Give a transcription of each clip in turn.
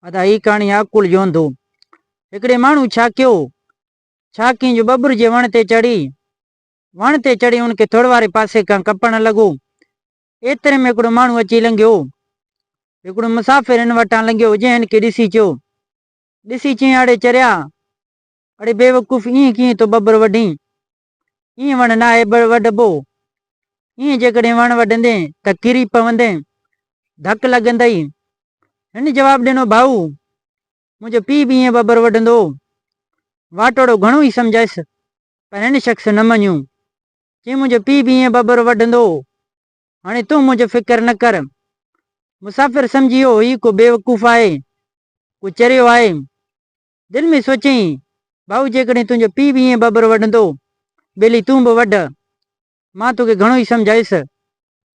ادا هي ڪهاڻي آ عقل جو انڌو. هڪڙي ماڻهو ڇا ڪيو؟ ڇا ڪيئن جو ٻٻر جي وڻ تي چڙهي. وڻ تي چڙهي ان کي ٿڙ واري پاسي کان ڪپڻ لڳو. ايتري ۾ هڪڙو ماڻهو اچي لنگهيو. هڪڙو مسافر هن وٽان لنگهيو جنهن هن کي ڏسي چيو. ڏسي چيائين اڙي چريا! اڙي بيوقوف ائين ڪيئن ٿو ٻٻر وڍين؟ ايئن وڻ ناهي وڍبو. ايئن جيڪڏهن وڻ وڍندين ته ڪري پوندين، ڌڪ لڳندئي. هن جواب ڏنو، ڀائو! منهنجو پيء به ايئن ٻٻر وڍندو هو. واٽوڙو گهڻو ئي سمجهايس، پر هن شخص نه مڃيو. چيائين، منهنجو پيء به ايئن ٻٻر وڍندو هو. هاڻي تون منهنجو فڪر نه ڪر. مسافر سمجهي ويو، هي ڪو بيوقوف آهي، ڪو چريو آهي. دل ۾ سوچيائين، ڀائو جيڪڏهن تنهنجو پيء به ائين ٻٻر وڍندو، ٻيلي تون به وڍ. مان توکي گهڻو ئي سمجهايس.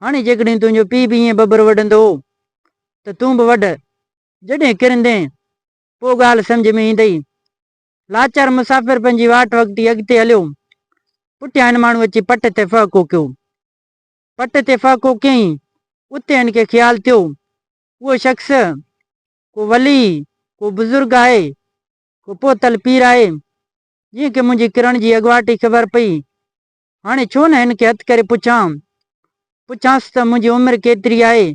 هاڻي جيڪڏهن تنهنجو پيء به ائين ٻٻر وڍندو هو ته تون به وڍ. جڏهن ڪرندين، پوء ڳالهه سمجهه ۾ ايندئي. لاچار مسافر پنهنجي واٽ وڳتي اڳتي هليو. پٺيان هن ماڻهو اچي پٽ تي ڦهه ڪوڪيو. پٽ تي ڦهه ڪوڪيائين، اتي هن کي خيال ٿيو، اهو شخص ڪو ولي، ڪو بزرگ آهي، ڪو پهتل پير آهي، جنهن کي منهنجي ڪرڻ جي اڳواٽ ئي خبر پئي. هاڻي ڇو نه هن کي هٿ ڪري پڇان. پڇانس ته منهنجي عمر ڪيتري آهي؟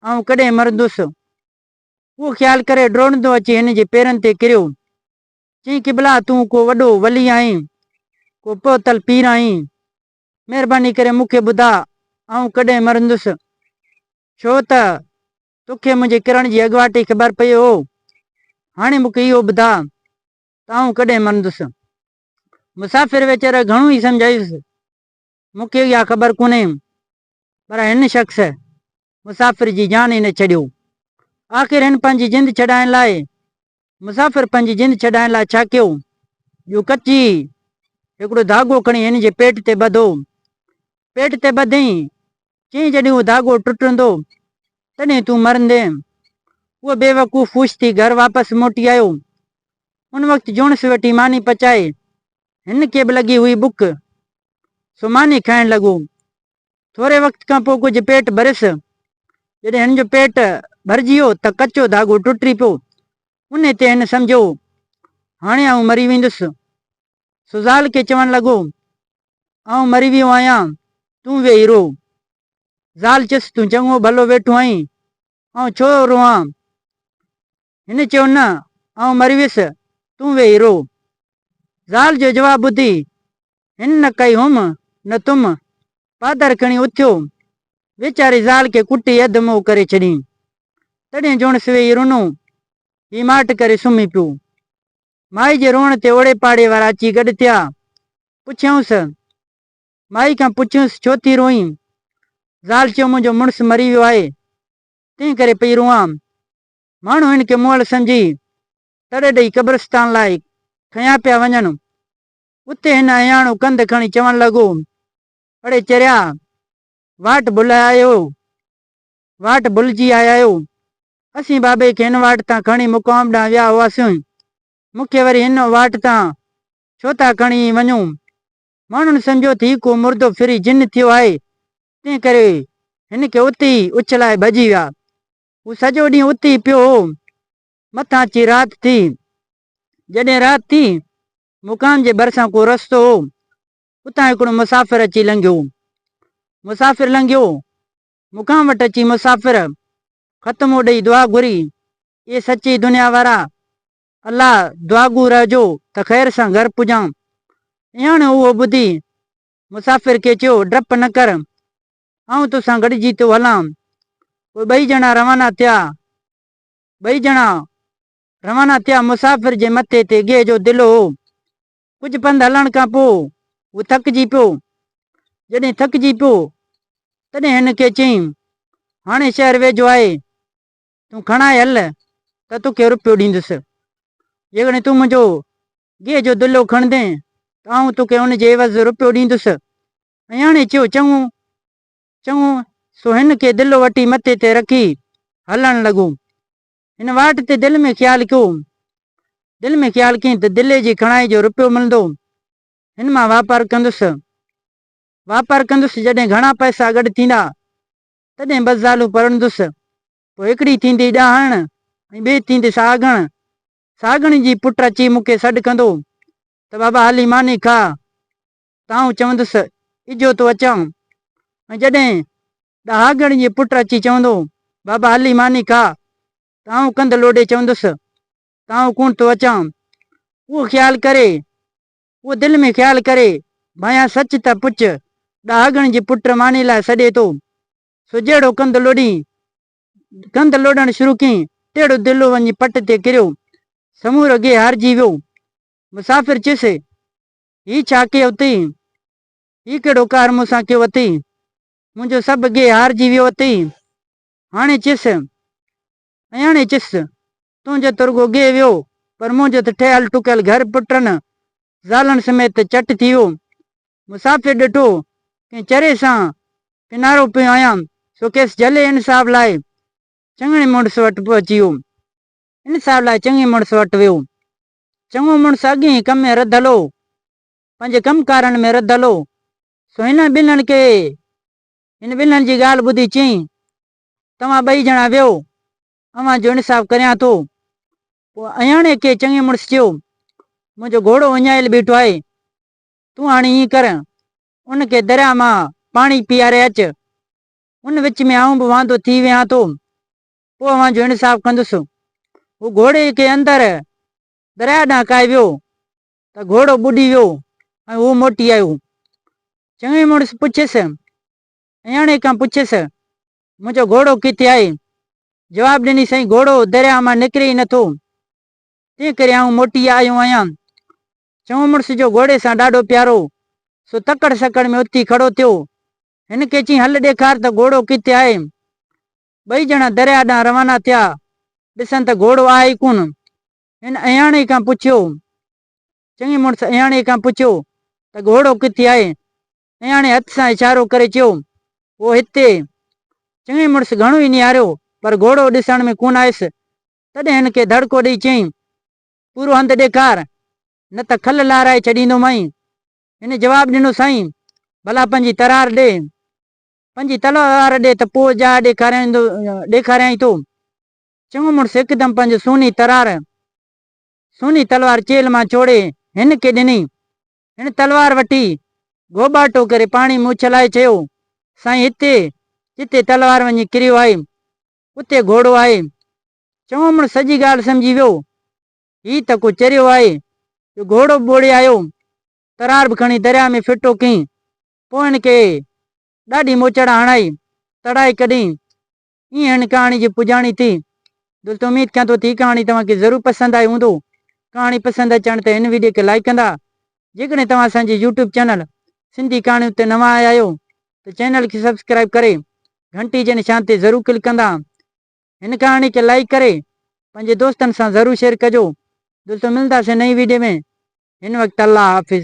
آئون ڪڏهن مرندس؟ اهو خيال ڪري ڊوڙندو اچي هن جي پيرن تي ڪريو. چيائين قبلا تون ڪو وڏو ولي آهين، ڪو پهتل پير آهين. مهرباني ڪري مون کي ٻڌاء آئون ڪڏهن مرندس؟ ڇو ته توکي منهنجي ڪرڻ جي اڳواٽ ئي خبر پيو هو. هاڻي مون کي اهو ٻڌاء ته آئون ڪڏهن مرندس؟ مسافر ويچاري گهڻو ئي سمجهايس. مون کي اها خبر ڪونهي پر هن شخص مسافر جي جان ئي نه ڇڏيو. آخر هن پنهنجي جند ڇڏائڻ لاء مسافر پنهنجي جند ڇڏائڻ لاء ڇا ڪيو؟ جو ڪچي هڪڙو ڌاڳو کڻي هن جي پيٽ تي ٻڌو. پيٽ تي ٻڌئين. چيائين جڏهن اهو ڌاڳو ٽٽندو تڏهن تون مرندين. اهو بيوقوف خوش ٿي گهر واپس موٽي آيو. ان وقت جوڻس ويٺي ماني پچائي. هن کي به لڳي هئي بک. سو ماني کائڻ لڳو. ٿوري وقت کان پوء ڪجهه پيٽ ڀريس. جڏهن هن جو پيٽ ڀرجي ويو ته ڪچو ڌاڳو ٽٽي پيو. انهي تي هن سمجهيو، هاڻي آئون مري ويندس. سزال کي چوڻ لڳو، آئون مري ويو آهيان، تون ويهي رو. زال چيس، تون چڱو ڀلو ويٺو آهين، آئون ڇو روئان؟ هن چيو نه آئون مري ويس تون ويهي رو. زال جو جواب ٻڌي هن نه ڪئي هوم نه تم پادر کڻي اٿيو ويچاري زال کي ڪٽي اڌ موء ڪري ڇڏين تڏهن جوڻس ويهي رنو هي ماٺ ڪري سمهي پيو مائي جي روئڻ تي اوڙي پاڙي وارا اچي گڏ ٿيا پڇيائونس مائي کان پڇيونس ڇو ٿي روئين زال چيو منهنجو مڙس مري ويو آهي تنهن ڪري پئي روئان ماڻهو هن کي مئل سمجهي تڙ ڏئي قبرستان لاء کنيا پيا وڃن. اتي هن اهياڻو ڪنڌ کڻي چوڻ لڳو، اڙي چريا، واٽ ڀلئي آيا آهيو، واٽ ڀلجي آيا آهيو. اسين بابي کي هن واٽ تان کڻي مقام ڏانهن ويا هئاسين، مون کي وري هن واٽ تان ڇو ٿا کڻي وڃو؟ ماڻهن سمجهيو ته هي ڪو مردو ڦري جن ٿيو آهي، تنهن ڪري هن کي اتي ئي اڇلائي ڀڄي ويا. هو سڄو ڏينهن اتي ئي پيو هو. مٿان اچي رات ٿي. جڏهن رات ٿي، مقام جي ڀرسان ڪو رستو هو، اتان هڪڙو مسافر اچي لنگهيو. مسافر لنگهيو، مقام وٽ اچي مسافر ختمو ڏئي دعا گهري، اي سچي دنيا وارا! الله دعاگو رهجو ته خير سان گهر پڄان. اياڻيو اهو ٻڌي مسافر کي چيو، ڊپ نه ڪر، آئون توسان گڏجي ٿو هلان. پوء ٻئي ڄڻا روانا ٿيا. ٻئي ڄڻا روانا ٿيا. مسافر جي مٿي تي گيهه جو دلو هو. ڪجهه پنڌ هلڻ کان پوء هو ٿڪجي پيو. جڏهن ٿڪجي پيو تڏهن هن کي چيائين، هاڻي شهر ويجهو آهي، تون کڻائي هل ته توکي رپيو ڏيندس. جيڪڏهن تون منهنجو گيهه جو دلو کڻندين ته آئون توکي ان جي عيوض رپيو ڏيندس. اياڻي چيو، چڱو، چڱو، سو هن کي دلو وٺي مٿي تي رکي هلڻ لڳو. هن واٽ تي دل ۾ خيال ڪيو، دل ۾ خيال ڪيائين ته دلي جي کڻائي جو رپيو ملندو، هن مان واپار ڪندس. واپار ڪندس، جڏهن گهڻا پئسا گڏ ٿيندا، تڏهن ٻه زالون پرڻندس، پوء هڪڙي ٿيندي ڏاهڻ ۽ ٻي ٿيندي سهاڳڻ. سهاڳڻ جي پٽ اچي مون کي سڏ ڪندو ته بابا هلي ماني کاء، ته آئون چوندس، اجهو ٿو اچان. ۽ جڏهن ڏهاڳڻ جي پٽ اچي چوندو، بابا هلي ماني کا، ته آئون ڪنڌ لوڏي چوندس، ته آئون ڪونه ٿو اچان. اهو خيال ڪري، اهو دل ۾ خيال ڪري، ڀانيان سچ ته پڇ، ڏهاڳڻ جي پٽ ماني لاء سڏي ٿو. سو جهڙو ڪنڌ لوڏين، ڪنڌ لوڏڻ شروع ڪيئين، تهڙو دلو وڃي پٽ تي ڪريو. سمورو گيهه هارجي ويو. مسافر چيس، هي ڇا ڪيئي اٿئي؟ هي ڪهڙو قهر مون سان ڪيو اٿئي؟ منهنجو سڀ گيهه هارجي ويو اٿئي. هاڻي چس، اياڻي چس، تنهنجو ته رڳو گيهه ويو، پر منهنجو ته ٺهيل ٺڪيل گهر پٽن زالن سميت چٽ ٿي ويو. مسافر ڏٺو، ڪنهن چري سان ڪنارو پيو آيان، سو کيس جهلي انصاف لاء چڱڻي مڙس وٽ پهچي ويو. انصاف لاء چڱي مڙس وٽ ويو، چڱو مڙس اڳئين ڪم ۾ رڌل هو، پنهنجي ڪم ڪارن ۾ رڌل هو، سو هنن ٻنهن کي هن ٻنهن جي ڳالهه ٻڌي چيائين، توهان ٻئي ڄڻا ويهو، اوهان جو انصاف ڪريان ٿو. پوء اهياڻي کي چڱي مڙس چيو، منهنجو گهوڙو اڃايل بيٺو آهي، تون هاڻي ائين ڪر، ان کي درياء مان پاڻي پيئاري اچ، ان وچ ۾ آئون به واندو ٿي ويهان ٿو، پوء اوهان جو انصاف ڪندس. هو گهوڙي کي اندر درياهه ڏانهن ڪاهي ويو ته گهوڙو ٻڏي ويو ۽ هو موٽي آيو. چڱي مڙس پڇيس، اياڻي کان پڇيس، منهنجو گهوڙو ڪٿي آهي؟ جواب ڏني، سائين گهوڙو درياهه مان نڪري ئي نٿو، تنهن ڪري آئون موٽي آيو آهيان. چڱو مڙس جو گهوڙي سان ڏاڍو پيار هو، سو تڪڙ سڪڙ ۾ اٿي کڙو ٿيو. هن کي چيائين، هل ڏيکار ته گهوڙو ڪٿي آهي. ٻئي ڄڻا درياهه ڏانهن روانا ٿيا، ڏسن ته گهوڙو آهي ئي ڪونه. هن اهياڻي کان پڇيو، چڱي مڙس اهياڻي کان پڇيو ته گهوڙو ڪٿي آهي؟ اهياڻي هٿ سان اشارو ڪري چيو، اهو هتي. چڱي مڙس گهڻو ئي نهاريو پر گهوڙو ڏسڻ ۾ ڪونه آيس، تڏهن هن کي ڌڙڪو ڏيئي چيائين، پورو هنڌ ڏيکار، نه ته کل لارائي ڇڏيندومانء. هن جواب ڏنو، سائين، ڀلا پنهنجي ترار ڏي. پنهنجي تلوار ڏي ته پوء جاء ڏيکاريندو ڏيکاريانء ٿو. چڱو مڙس هڪدم پنهنجي سوني ترار، سوني تلوار چيلهه مان ڇوڙي هن کي ڏني. هن تلوار وٺي گهوٻاٽو ڪري پاڻي ۾ اڇلائي چيو، سائين هتي جتي تلوار وڃي ڪريو آهي، اتي گهوڙو آهي. چڱو مڙس سڄي ڳالهه سمجهي ويو. هي ته ڪو چريو آهي، جو گهوڙو به ٻوڙي آيو، ترار به کڻي درياء ۾ ڦٽو ڪيئي. پوء هن کي ڏاڍي موچڙا هڻائي تڙائي ڪڍين. هي هن ڪهاڻي جي پڄاڻي ٿي. دولت اميد ڪيان ٿو ته هي ڪهاڻي توهان کي ضرور پسند آئي هوندو. ڪهاڻي پسند اچڻ تي هن ويڊيو کي لائيڪ ڪندا. جيڪڏهن توهان اسان جي يوٽيوب چينل سنڌي ڪهاڻيون تي نوان آيا آهيو ته چينل کي سبسڪرائيب ڪري گهنٽي جي نشان تي ضرور ڪلڪ ڪندا. هن ڪهاڻي کي لائيڪ ڪري پنهنجي دوستن سان ضرور شيئر ڪجو. دولت ملنداسين نئين ويڊيو ۾ هن وقت الله حافظ.